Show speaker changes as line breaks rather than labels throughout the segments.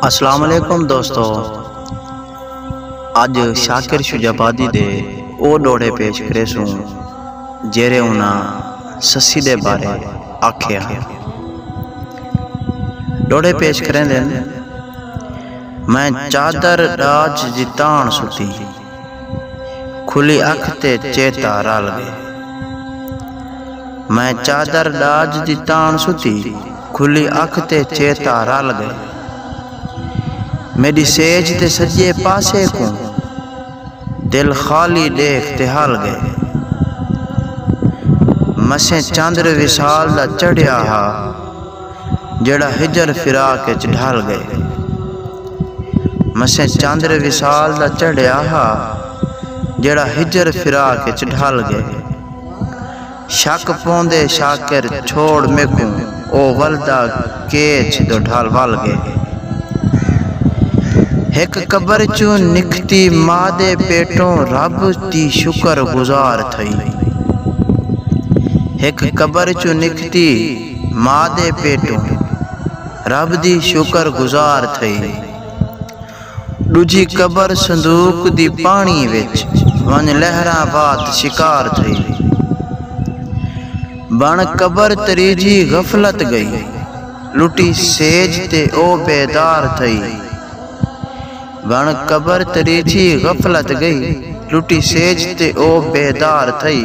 السلام علیکم دوستو اج شاکر شجابادی دے او ڈوڑے پیش کرے سوں جیرے انہاں سسی دے بارے آکھے ہاں ڈوڑے پیش کریں دن میں چادر ڈاج جتان ستی کھلی اکھ تے چیتا رل گئے میں چادر ڈاج دی تان ستی کھلی اکھ تے چیتا رل گئے میڈی سیج تے سجے پاسے کوں دل خالی ڈیکھ تے ہل گئے مسیں چندر وسال دا چڑھیا ہا جیڑھا ہجر فراق اچ ڈھل ڳئے۔ مسیں چندر وصال دا چڑھیا ہا جیڑھا ہجر فراق اچ ڈھل ڳئے۔ شک پوندے شاکر چھوڑ میکوں او ولدا کیچ دو ڈھل ول ڳئے۔ ہک قبر چوں نکھتی ما دے پیٹوں رب دی شکر گزار تھئی۔ ماء دے پیٹوں رب دی شکر گزار تھئی ڈوجھی قبر صندوق دی پانڑی وچ ونج لہراں وات شکار تھئی بن قبر تریجھی غفلت گئی لٹی سیج تے او بیدار تھئی بن قبر تریجھی غفلت گئی لٹی سیج تے او بیدار تھئی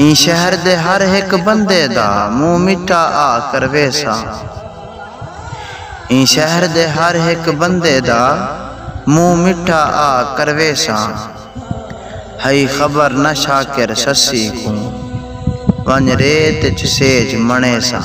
ایں شہر دے ہر ہک بندے دا منہ مٹا آ کرویساں ایں شہر دے ہر ہک بندے دا منہ مٹا آ کرویساں ہئی خبر نہ شاکر سسی کوں ونج ریت اچ سیج مݨیساں۔